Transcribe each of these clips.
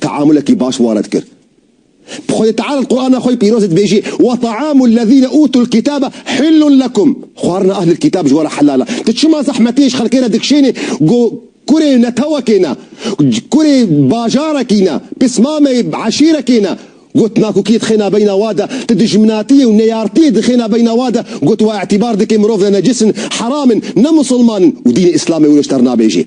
teamulekî baş wan re dikir. Bi Xwedê Teala li Qurana xwe yê pîrozê dibêjî, Wa taamu lezîne utul kîtabe hillun lekum, xwarina ehlil kîtab ji wan re helal e. Tu çima zehmetiyê ji xelkê re dikişênî ku kurê netewekê ne, kurê bajarekî ne, pismamê eşîrekê ne? Got, Nakokiyê dixêna beyna wan de, tu dijminatiyê û neyartiyê dixêna beyna wan de, got, Wa îtîbar dike mirov ne necis in, heram in, ne musilman in û dînê îslamê wir ji te re nabêjê.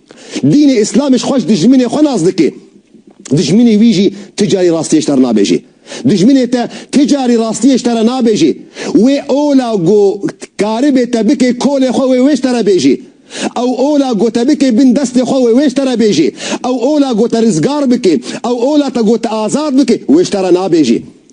Dînê Îslamê ji xwe ji dijminê xwe nas dike. Dijminê wî jî ti carî rastiyê ji te re nabêje. Dijminê te ti carî rastiyê ji te re nabêje. Wê ola ku karibê te bike kolê xwe wê wê ji te re bêje. Ew ola ku te bike bin destê xwe wê wê ji te re bêje. Ew ola ku te rizgar bike, ew ola te ku te azad bike wê ji te re nabêje.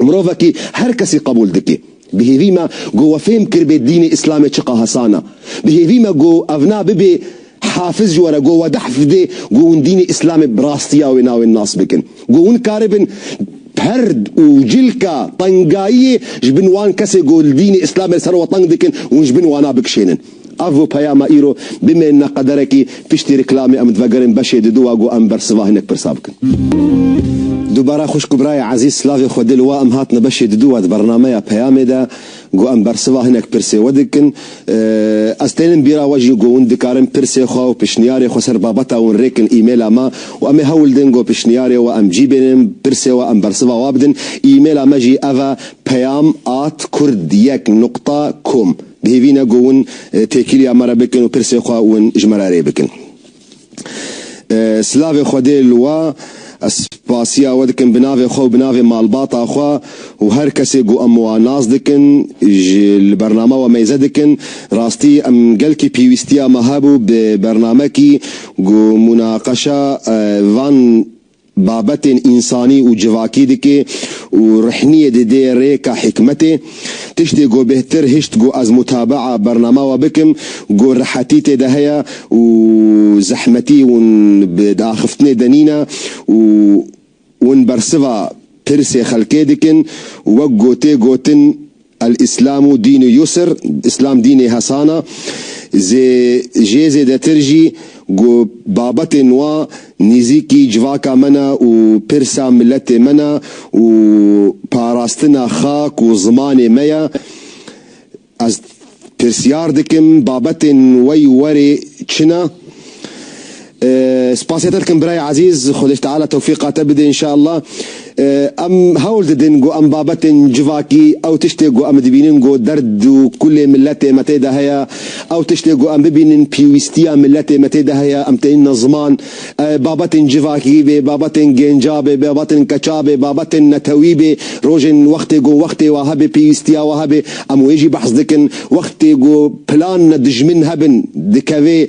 Mirovekî her kesî qebûl dike. Bi hêvî me ku we fêm kiribê dînê îslamê çiqa hesan e. Bi hêvî me ku ev na bibê hafiz ji we re ku we dehf bide ku hûn dînê îslamê bi rastiya wê navê nas bikin. Ku hûn karibin perd û cilka tengayiyê ji bin wan kesê ku li dînê îslamê li ser we teng dikin hûn ji bin wana bikişênin. Avo peyama îro bimêne qederekî piştî rîklamê em divegerin beşê di dûwa ku em bersiva hinek pirsa bikin. Dubare xwişk û birayê ezîz silavê xwe dil wa em hatine beşê di dûwa di bernameya peyamê de ku em bersiva hinek pirsê we dikin. Ez tênim bîra we jî ku hûn dikarin pirsê xwe û pişniyarê xwe ser babeta hûn rêkin îmêla me û em ê hewl din ku pişniyarê we em cî bênin pirsê we em bersiva wa bidin îmêla me jî ev e peyam at kurd yek nuqta kom. Bihêvîne ku win têkiliya me re bikin û pirsê xwe win ji me re rê bikin. Silavê Xwedê li we, ez spasiya we dikim bi navê xwe û bi navê malbata xwe û her kesê ku em wan nas dikin, ji li bername we meyze dikin. Rastî em gelkî pîwîstiya me hebû bi bernamekî ku munaqeşa van. babetên însanî û civakî dike û rehniyê dide rêka hikmetê. Tiştê ku bêhtir hişt ku ez mutabea bernama we bikim ku rehetî tê de heye û zehmetî hûn bi diaxiftinê de nîne û hûn bersiva pirsê xelkê dikin wek ku tê gotin El Îslamu dînu yusr, Îslam dînê hesan a, zê jê zêdetir jî ku babetên wa nîzîkî civaka me ne û pirsa miletê me ne û parastina xak û zimanê me ye. Ez pirsiyar dikim babetên wey werê çi ne? Spasiyê te dikim birayê ezîz, Xwedê ji teala tewfîqa te bide înşallah. Em hewl didin ku em babetên civakî, ew tiştê ku em dibînin ku derd û kulê miletê me tê de heye, ew tiştê ku em bibînin pîwîstiya miletê me tê de heye, em têne ziman. Babetên civakî bê, babetên gênca bê, babetên keça bê, babetên netewî bê, rojên wextê ku wextê wa hebe, pîwîstiya wa hebe, em wê jî behs dikin. Wextê ku plan dijmin hebin, dikeve.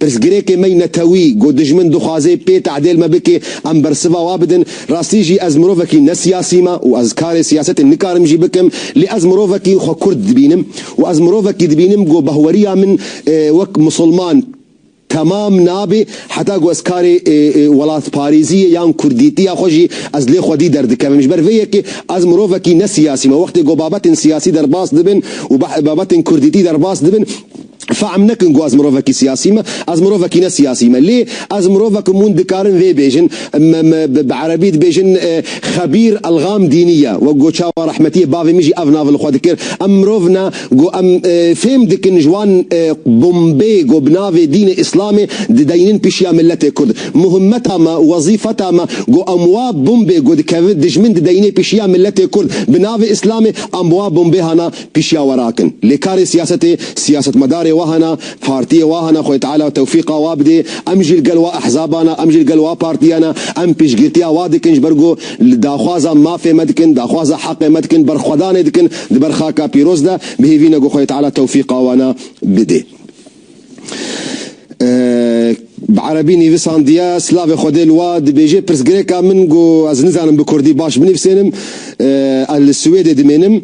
Pirsgirêkê me ne tewî, ku dijmin dixwaze pê tadêl me bike, em bersiva we bidin. Rastî jî ez mirovekî ne siyasî me û ez karê siyasetê nikarim jî bikim, lê ez mirovekî xwe Kurd dibînim û ez mirovekî dibînim ku bahweriya min wek misilman temam nabe heta ku ez karê welatparêziyê yan kurdîtiya xwe jî ez lê xwedî derdikevim. Ji ber vê yekê ez mirovekî ne siyasî me. Wextê ku babetên siyasî derbas dibin û babetên kurdîtî derbas dibin, Fehm nekin ku ez mirovekî siyasî me, ez mirovekî ne siyasî me. Lê ez mirovek im hûn dikarin vê bêjin. Bi erebî dibêjin Xebîr Elgam Dînî ye. Wek got çawa rehmetiyê bavê min jî ev navê li xwe dikir. Em mirov ne ku em fêm dikin ji wan bombê ku bi navê dînê îslamê dideynin pişiya miletê kurd. Muhimmeta me, wezîfeta me ku em wa bombê ku dikeve dijmin dideyne pişiya miletê kurd bi navê îslamê em bi wa bombê hana Pişiya we rakin. Lê karê siyasetê, siyasetmedarê wa hene, partiyê wa hene, Xwedê Teala tewfîqa wa bidê, em jî li gel wa ehzaban e, em jî li gel wa partiyan e, em piştgirtiya wa dikin ji ber ku li daxwaza mafê me dikin, daxwaza heqê me dikin, berxwedanê dikin li ber xaka pîroz de, bihêvîne ku Xwedê Teala tewfîqa wan a bidê. Bi erebî nivîsandiye, Silavê Xwedê li wa dibêje, Pirsgirêka min ku ez nizanim bi kurdî baş binivîsênim, ez li Swêdê dimênim.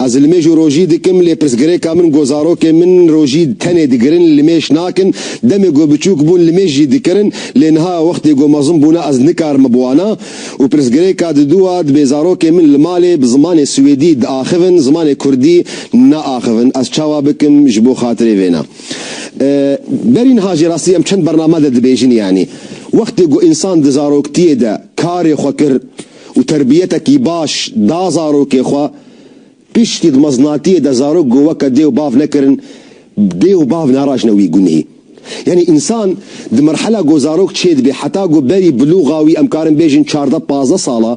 Ez limêj û rojî dikim lê pirsgirêka min ku zarokên min rojî tenê digirin limêş nakin. Demê ku biçûk bûn limêj jî dikirin lê niha wextê ku mezin bûne ez nikarim biwana. Û pirsgirêka di dû a, dibê zarokên min li malê bi zimanê swêdî diaxivin, zimanê kurdî naaxivin, ez çawa bikim ji bo xatirê vêna? Berî niha jî rastî em çend bername de dibêjin yanî wextê ku însan di zaroktiyê de karê xwe kir û terbiyetekî baş da zarokê xwe, Piştî di meznatiyê de zarok ku weke dê û bav nekirin, dê û bav narajne wî gunhî. Yanî însan di merhela ku zarok çêdibê heta ku berî bilûxa wî em karin bêjin çardeh pazdeh sal e,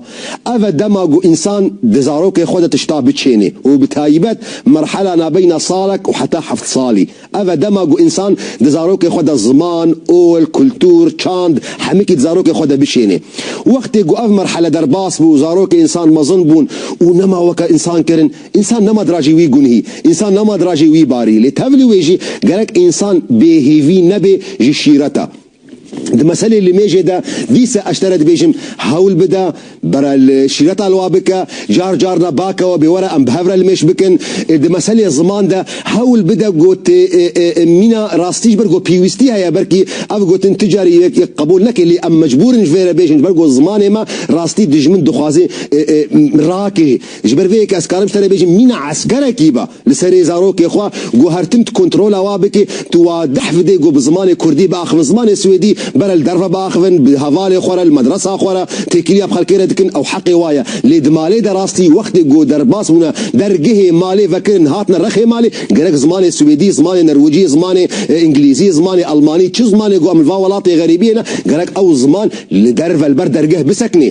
ev e dema ku însan di zarokê xwe de tişta biçênê û bi tayîbet merhela nabeyna salek û heta heft salî. Ev e dema ku însan di zarokê xwe de ziman, ol, kultur, çand, hemikî di zarokê xwe de bişênê. Wextê ku ev merhale derbas bû, zarokê însan mezin bûn û nema weke însan kirin. Însan nema dirajî wî gunhî, însan nema dirajî wî barî. Lê tevlî wê jî gerek însan bêhîvî nebe ji şîret e. Di meselê li mêjê de dîse eş te re dibêjim hewl bide bere li şîreta li wa bike, car car ne bakewe bê were em bi hev re li mêj bikin. Di meselê ziman de hewl bide got mîna rastî ji ber ku pêwîstî heye belkî ev gotin tu carî yek yek qebûl neke lê em mecbûr in ji vê re bêjin ji ber ku zimanê me rastî dijmin dixwaze rakê ji ber vê yekê ez karim ji te re bêjim mîna eskerekî be Li serê zarokê xwe guhertin tu kontrola wa bikî, tu wadih bidê ku bi zimanê kurdî biaxivin, zimanê swêdî bere li derve biaxivin, bi hevalê xwe re, li medresa xwe re, têkiliya bi xelkê re dikin, ew heqê wa ye. Lê di malê de rastî wextê ku derbas bûne dergehê malê vekirin hatine rexê malê, gerek zimanê swêdî, zimanê nerwicî, zimanê îngilîzî, zimanê elmanî, çi zimanê ku em li va welatê xerîbiyê ne, gerek ew ziman li derve li ber dergeh bisekinê.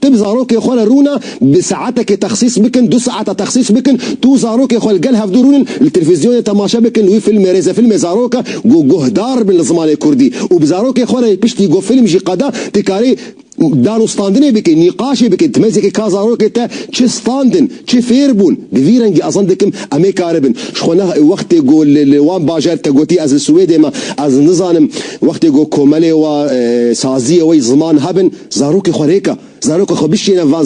Tib zarokê xwe re rûna bi saetekê texsîs bikin, du saeta texsîs bikin, tu û zarokê xwe li gel hevdu rûnin li televîzyonê temaşe bikin wî filmê rêzefilmê zarok e ku guhdar bin li zimanê kurdî û bi zarokê xwe re piştî ku film jî qada tu karî danûstandinê bikî, nîqaşê bikî dimezekî ka zarokê te çi standin, çi fêr bûn bi vî rengî ezan dikim em ê kari bin. Ji xwe ne wextê ku li li wan bajar te gotî ez li Swêdê me ez nizanim wextê ku komelê we saziyê we yî ziman hebin, Zarokê xwe rêka, zarokê xwe bişîne van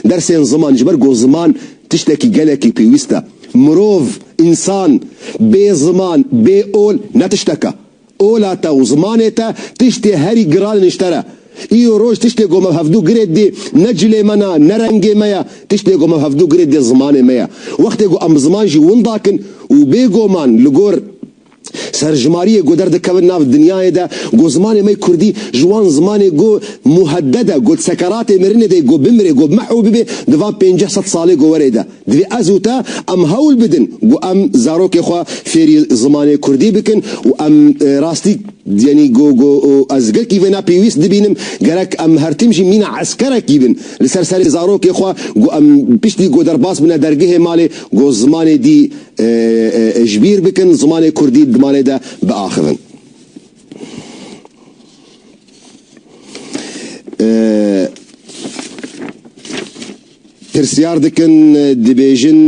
dersên ziman ji ber ku ziman tiştekî gelekî pêwîst e. Mirov, însan, bê ziman, bê ol ne tiştek e. Ola te û zimanê te tiştê herî giran in ji te re. Îro roj tiştê ku me bi hevdu girê didê ne cilê me ne, ne rengê me ye, tiştê ku me bi hevdu girê didê zimanê me ye. Wextê ku em bi ziman jî winda kin û bêgoman li gor. Serjimariyê ku derdikevin nav dinyayê de ku zimanê me kurdî ji wan zimanê ku muheddede ku di sekeratê mirinê de ku bimire ku bimeh û bibe di van pênceh sed salê ku were de divê ez û te em hewl bidin ku em zarokê xwe fêrî zimanê kurdî bikin û em rastî yanî ku ku ez gelkî vê ne pêwîst dibînim gerek em her tim jî mîna eskerekî bin li ser serê zarokê xwe ku em piştî ku derbas bine dergehê malê ku zimanê dî Ji bîr bikin zimanê kurdî di malê de biaxivin. Pirsyar dikin, dibêjin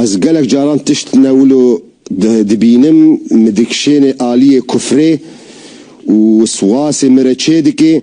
Ez gelek caran tişt ne wilo dibînim, min dikişêne aliyê kufrê û siwasê min re çêdike.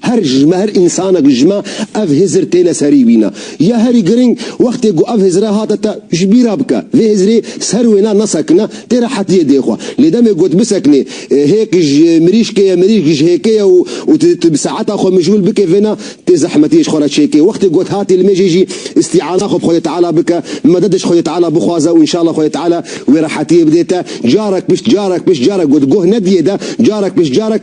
Her ji me her însanek ji me ev hizir têne serî wîna. Ya herî girîng wextê ku ev hizire hate te ji bîr re bike. Vê hizirê ser wêne nesekine tê re hetiyê dê xwe. Lê demê ku tu bisekinî hêk ji mirîşkê ye mirîşk ji hêkê ye û tu tu bi saeta xwe mijûl bikê vê ne tê zehmetiyê ji xwe re çêkê. Wextê ku tu hatî li mêjê jî îstîana xwe bi Xwedê Teala bike, meded ji Xwedê Teala bixwaze û înşallah Xwedê Teala wê rehetiyê bidê te. Carek pişt carek pişt carek ku tu guh nediyê de carek pişt carek.